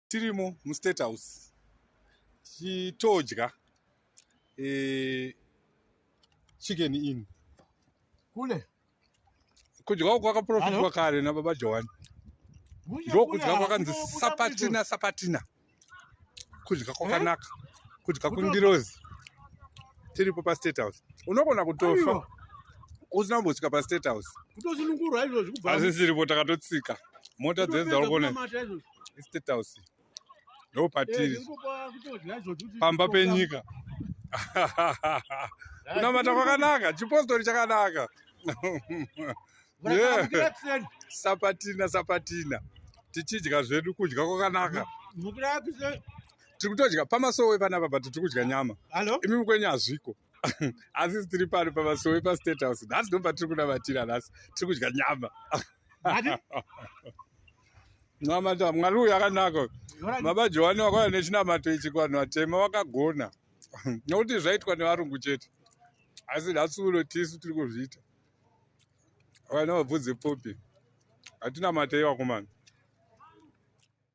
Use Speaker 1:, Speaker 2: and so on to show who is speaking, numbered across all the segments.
Speaker 1: tirimo mustate house tichitodya e, chicken in kule kudya uku kwakaprofitwa kare nababa johani ndokudya kwakanzi sapatina sapatina kudya kwakanaka kudya kundirozi tiripo pastate house unogona kutofa usina kumbosvika pastate house hazvisiripo takatotsika mota dzedzaukone estate house ndo patiri pamba penyika kunamata kwakanaka chipostori chakanaka sapatina sapatina tichidya zvedu kudya kwakanaka tiri kutodya pamasowe panapa but tiri kudya nyama imi mukwenyu hazviko asi tiri pano pamasowe pastate house nhasi ndopa tiri kunamatira nhasi tiri kudya nyama namata mwari uyu akanaka baba johani wakauya nechinamato ichi kuvanhu vatema vakagona nokuti zvaitwa nevarungu chete asi nasuuno tisu tiri kuzviita vana vabvudze popi hatina matei vakomana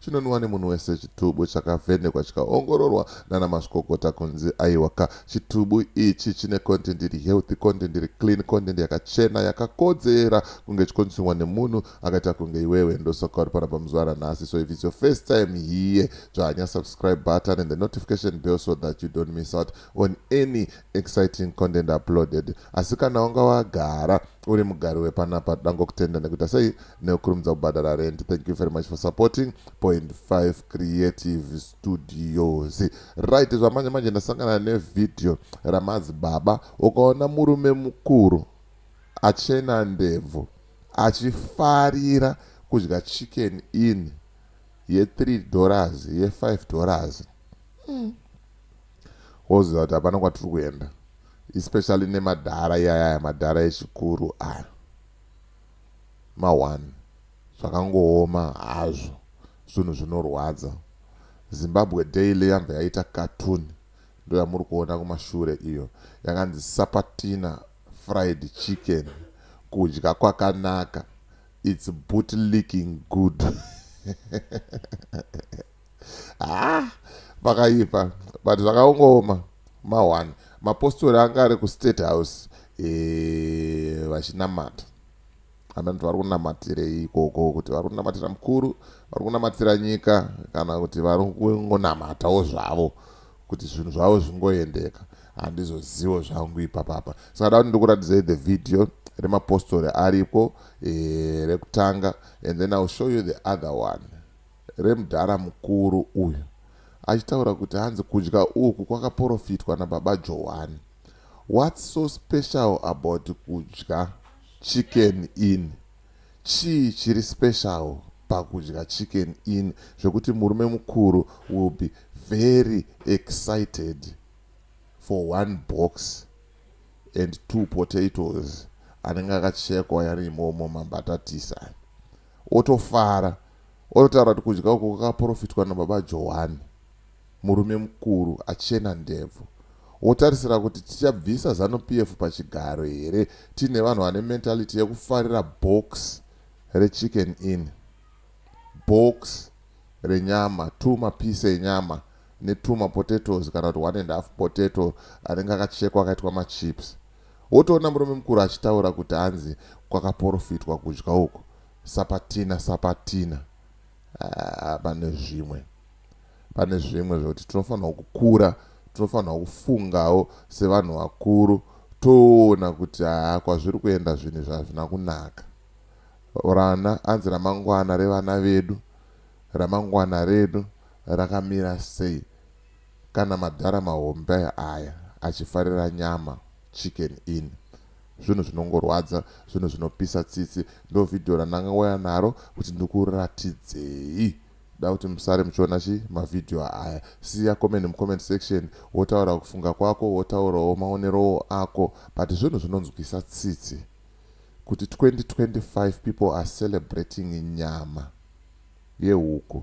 Speaker 2: chinonwiwa nemunhu wese chitubu chakavhenekwa chikaongororwa nana mazvikokota kunzi aiwaka chitubu ichi chine content iri healthy content iri clean content yakachena yakakodzera kunge chikonsumiwa nemunhu akaita kunge iwewe ndosaka uri pana pamuzuva ranhasi so if its your first time here dzvanya subscribe button and the notification bell so that you don't miss out on any exciting content uploaded asi kana wanga wagara uri mugari wepanapa dangokutenda nekuita sei nekukurumidza kubhadhara rent thank you very much for supporting point 5 creative studios right zvamanje manje ndasangana nevhidhiyo ramadzibaba ukaona murume mukuru achena ndebvu achifarira kudya chicken in ye3 dollars ye5 dollars mm. Woziva kuti hapana kwatiri kuenda especially nemadhara iyaya aya madhara echikuru aya ma1 zvakangooma hazvo zvinhu zvinorwadza zimbabwe daily yambva yaita cartoon ndo yamuri kuona kumashure iyo yakanzi sapatina fried chicken kudya kwakanaka its boot leaking good ah pakaipa but zvakaongooma ma one mapostori anga ari kustate house eh, vachinamata amene kuti vari kunamatirei ikoko kuti vari kunamatira mukuru vari kunamatira nyika kana kuti vari kungonamatawo zvavo kuti zvinhu zvavo zvingoendeka handizozivo zvangu ipapapa saka da kuti ndikuratidzei the video remapostori ariko eh, rekutanga and then iwill show you the other one remudhara mukuru uyu achitaura kuti hanzi kudya uku kwakaporofitwa nababa johani whats so special about kudya chicken in chii chiri special pakudya chicken in zvekuti murume mukuru will be very excited for one box and two potatoes anenge akachekwa yarimomo mambatatisa Otofara ototaura kuti kudya uku kwakaporofitwa nababa Johwani, murume mukuru achena ndebvu. Wotarisira kuti tichabvisa Zanu PF pachigaro here tiine vanhu vane mentality yekufarira box rechicken inn, box renyama, two mapiece enyama ne two mapotatoes kana kuti one and half potato anenge akachekwa akaitwa machips. Wotoona murume mukuru achitaura kuti hanzi kwakaporofitwa kudya uku. Sapatina sapatina. Haa pane zvimwe. Pane zvimwe zvekuti tinofanirwa kukura, tinofanirwa kufungawo sevanhu vakuru toona kuti haa kwazviri kuenda zvinhu izvi hazvina kunaka. Rana hanzi ramangwana revana vedu, ramangwana redu rakamira sei? Kana madhara mahombe aya achifarira nyama chicken inn zvinhu zvinongorwadza zvinhu zvinopisa tsitsi ndo video randangauya naro kuti ndikuratidzei da kuti musare muchiona chi mavideo aya siya comment mucomment section wotaura kufunga kwako wotaurawo maonerowo ako but zvinhu zvinonzwisa tsitsi kuti 2025 people are celebrating nyama yehuku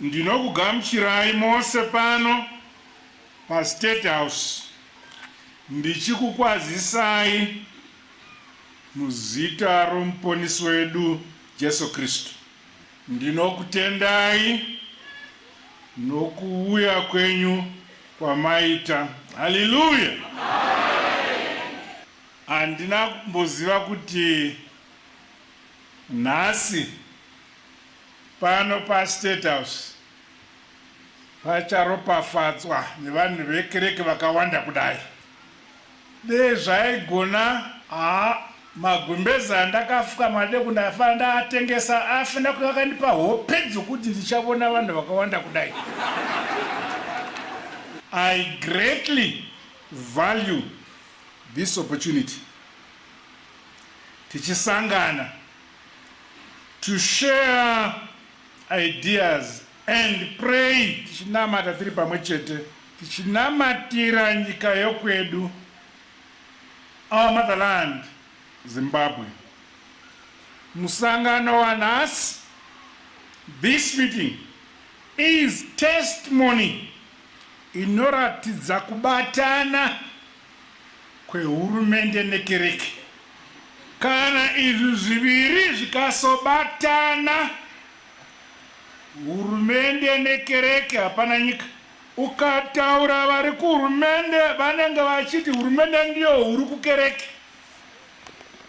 Speaker 3: Ndinokugamuchirai mose pano paState House ndichikukwazisai muzita roMuponisi wedu Jesu Kristu. Ndinokutendai nokuuya kwenyu kwamaita. Haleluya! Handina kumboziva kuti Nhasi pano paState House pacharopafadzwa nevanhu vekereke vakawanda kudai. Dei zvaigona haa magumbeze andakafuka madeko ndaifana ndaatengesa aifana kunge akandipa hope dzokuti ndichavona vanhu vakawanda kudai. I greatly value this opportunity. tichisangana to share ideas and pray tichinamata tiri pamwe chete tichinamatira nyika yokwedu our motherland Zimbabwe. Musangano wanhasi this meeting is testimony inoratidza kubatana kwehurumende nekereke. Kana izvi zviviri zvikasobatana, hurumende nekereke, hapana nyika. Ukataura vari kuhurumende vanenge vachiti hurumende ndiyo huru kukereke.